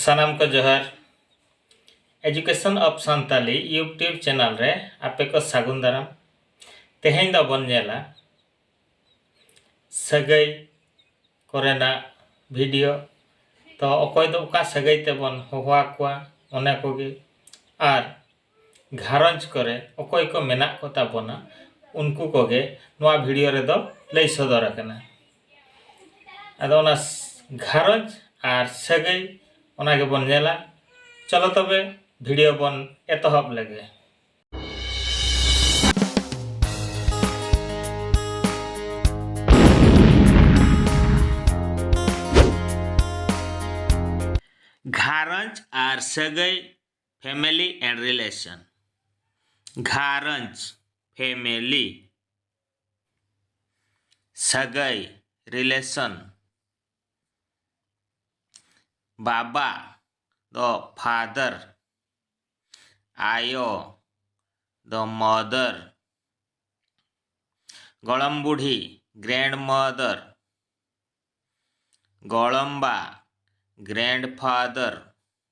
ᱥᱟᱱᱟᱢ ᱠᱚ ᱡᱚᱦᱟᱨ education of Santali YouTube channel ᱨᱮ ᱟᱯᱮ ᱠᱚ ᱥᱟᱹᱜᱩᱱ ᱫᱟᱨᱟᱢ ᱛᱮᱦᱮᱧ ᱫᱚᱵᱚᱱ ᱧᱮᱞᱟ ᱥᱟᱹᱜᱟᱹᱭ ᱠᱚᱨᱮᱱᱟᱜ ᱵᱷᱤᱰᱤᱭᱳ ᱛᱚ ᱚᱠᱚᱭ ᱫᱚ ᱚᱠᱟ ᱥᱟᱹᱜᱟᱹᱭ ᱛᱮᱵᱚᱱ ᱦᱚᱦᱚ ᱟᱠᱚᱣᱟ ᱚᱱᱟ ᱠᱚᱜᱮ ᱟᱨ ᱜᱷᱟᱨᱚᱸᱡᱽ ᱠᱚᱨᱮ ᱚᱠᱚᱭ ᱠᱚ ᱢᱮᱱᱟᱜ ᱠᱚ ᱛᱟᱵᱚᱱᱟ ᱩᱱᱠᱩ ᱠᱚᱜᱮ ᱱᱚᱣᱟ ᱵᱷᱤᱰᱤᱭᱳ ᱨᱮᱫᱚ ᱞᱟᱹᱭ ᱥᱚᱫᱚᱨ ᱟᱠᱟᱱᱟ ᱟᱫᱚ ᱚᱱᱟ ᱜᱷᱟᱨᱚᱸᱡᱽ ᱟᱨ ᱥᱟᱹᱜᱟᱹᱭ ᱚᱱᱟ ᱜᱮᱵᱚᱱ ᱧᱮᱞᱟ ᱪᱚᱞᱚ ᱛᱚᱵᱮ ᱵᱷᱤᱰᱤᱭᱳ ᱵᱚᱱ ᱮᱛᱚᱦᱚᱵ ᱞᱮᱜᱮ ᱜᱷᱟᱨᱚᱸᱡᱽ ᱟᱨ ᱥᱟᱹᱜᱟᱹᱭ ᱯᱷᱮᱢᱮᱞᱤ ᱮᱱᱰ ᱨᱤᱞᱮᱥᱚᱱ ᱜᱷᱟᱨᱚᱸᱡᱽ ᱯᱷᱮᱢᱮᱞᱤ ᱥᱟᱹᱜᱟᱹᱭ ᱨᱤᱞᱮᱥᱚᱱ ᱵᱟᱵᱟ ᱫᱚ ᱯᱷᱟᱫᱟᱨ ᱟᱭᱳ ᱫᱚ ᱢᱚᱫᱟᱨ ᱜᱚᱲᱚᱢ ᱵᱩᱰᱷᱤ ᱜᱨᱮᱱᱰ ᱢᱚᱫᱟᱨ ᱜᱚᱲᱚᱢᱵᱟ ᱜᱨᱮᱱᱰ ᱯᱷᱟᱫᱟᱨ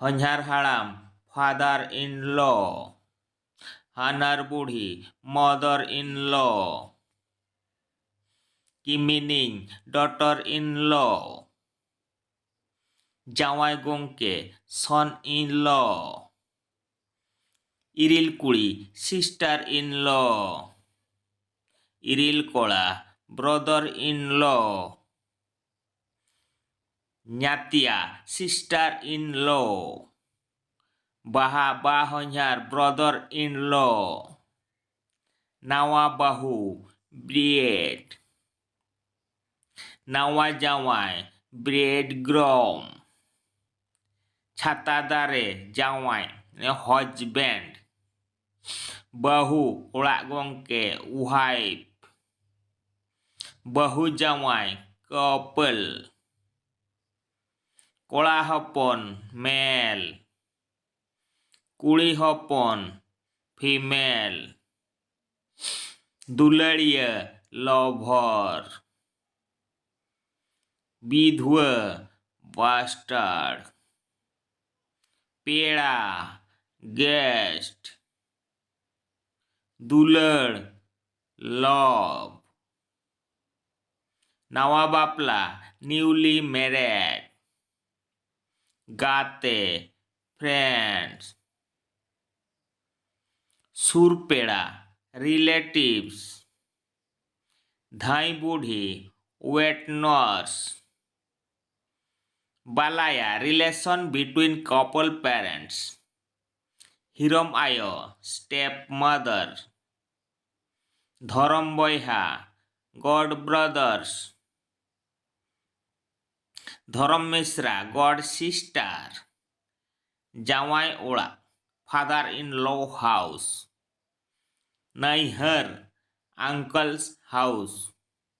ᱦᱚᱧᱦᱟᱨ ᱦᱟᱲᱟᱢ ᱯᱷᱟᱫᱟᱨ ᱤᱱ ᱞᱚ ᱦᱟᱱᱟᱨ ᱵᱩᱲᱦᱤ ᱢᱚᱫᱚᱨ ᱤᱱ ᱞᱚ ᱠᱤᱢᱤᱱᱤᱧ ᱰᱚᱴᱚᱨ ᱤᱱ ᱞᱚ ᱡᱟᱶᱟᱭ ᱜᱚᱝᱠᱮ ᱥᱚᱱ ᱤᱱ ᱞᱚ ᱤᱨᱤᱞ ᱠᱩᱲᱤ ᱥᱤᱥᱴᱟᱨ ᱤᱱ ᱞᱚ ᱤᱨᱤᱞ ᱠᱚᱲᱟ ᱵᱨᱚᱫᱚᱨ ᱤᱱ ᱞᱚ ᱧᱟᱛᱭᱟ ᱥᱤᱥᱴᱟᱨ ᱤᱱ ᱞᱚ ᱵᱟᱦᱟ ᱵᱟ ᱦᱚᱧᱦᱟᱨ ᱵᱨᱚᱫᱚᱨ ᱤᱱ ᱞᱚ ᱱᱟᱣᱟ ᱵᱟᱹᱦᱩ ᱵᱨᱤᱭᱮᱰ ᱱᱟᱣᱟ ᱡᱟᱶᱟᱭ ᱵᱨᱮᱰ ᱜᱨᱚᱢ ᱪᱷᱟᱛᱟ ᱫᱟᱨᱮ ᱡᱟᱶᱟᱭ ᱦᱚᱡᱽᱵᱮᱱᱰ ᱵᱟᱹᱦᱩ ᱚᱲᱟᱜ ᱜᱚᱝᱠᱮ ᱣᱟᱭᱤᱯᱷ ᱵᱟᱹᱦᱩ ᱡᱟᱶᱟᱭ ᱠᱚᱯᱮᱞ ᱠᱚᱲᱟ ᱦᱚᱯᱚᱱ ᱢᱮᱞ ᱠᱩᱲᱤ ᱦᱚᱯᱚᱱ ᱯᱷᱤᱢᱮᱞ ᱫᱩᱞᱟᱹᱲᱤᱭᱟᱹ ᱞᱚᱵᱷᱚᱨ ᱵᱤᱫᱷᱣᱟᱹ ᱵᱟᱥᱴᱟᱨᱰ ᱯᱮᱲᱟ ᱜᱮᱥᱴ ᱫᱩᱞᱟᱹᱲ ᱞᱚᱵᱽ ᱱᱟᱣᱟ ᱵᱟᱯᱞᱟ ᱱᱤᱭᱩᱞᱤ ᱢᱮᱨᱮᱰ ᱜᱟᱛᱮ ᱯᱷᱨᱮᱱᱰᱥ ᱥᱩᱨ ᱯᱮᱲᱟ ᱨᱤᱞᱮᱴᱤᱵᱷᱥ ᱫᱷᱟᱹᱭ ᱵᱩᱰᱷᱤ ᱳᱭᱮᱴ ᱱᱟᱨᱥ ᱵᱟᱞᱟᱭᱟ ᱨᱤᱞᱮᱥᱚᱱ ᱵᱤᱴᱩᱭᱤᱱ ᱠᱚᱯᱚᱞ ᱯᱮᱨᱮᱱᱴᱥ ᱦᱤᱨᱚᱢ ᱟᱭᱳ ᱥᱴᱮᱯ ᱢᱟᱫᱟᱨ ᱫᱷᱚᱨᱚᱢ ᱵᱚᱭᱦᱟ ᱜᱚᱰ ᱵᱨᱚᱫᱟᱨᱥ ᱫᱷᱚᱨᱚᱢ ᱢᱤᱥᱨᱟ ᱜᱚᱰ ᱥᱤᱥᱴᱟᱨ ᱡᱟᱶᱟᱭ ᱚᱲᱟᱜ ᱯᱷᱟᱫᱟᱨ ᱤᱱ ᱞᱚ ᱦᱟᱣᱩᱥ ᱱᱟᱹᱭᱦᱟᱹᱨ ᱟᱝᱠᱚᱞᱥ ᱦᱟᱣᱩᱥ